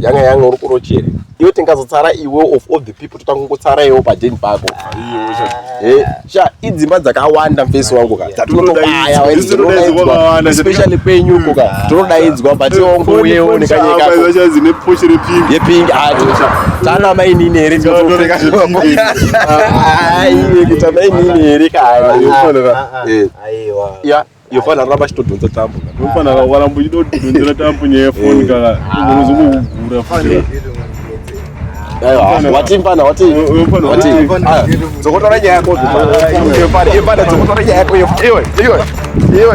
yanga yanga uri kurochere iwe tingazotsara iwe of all the people totanga kungotsara iwe padeni pako eh, sha idzimba dzakawanda mfesi wangu ka dzatinotobayaespecially kwenyuko ka ah, tinodaidzwa but ongouyeo nekanyekayepingi ati tana mainini here kuta mainini here kaaiwa iyo fana ramba achitodhonza tambo fana waramba uchitodhonzera tambo nyaya yefoni eh. kana unozongokugura futi watimfana watidzokotora nyaya yako ipana dzokotora nyaya yako iwe iwe iwe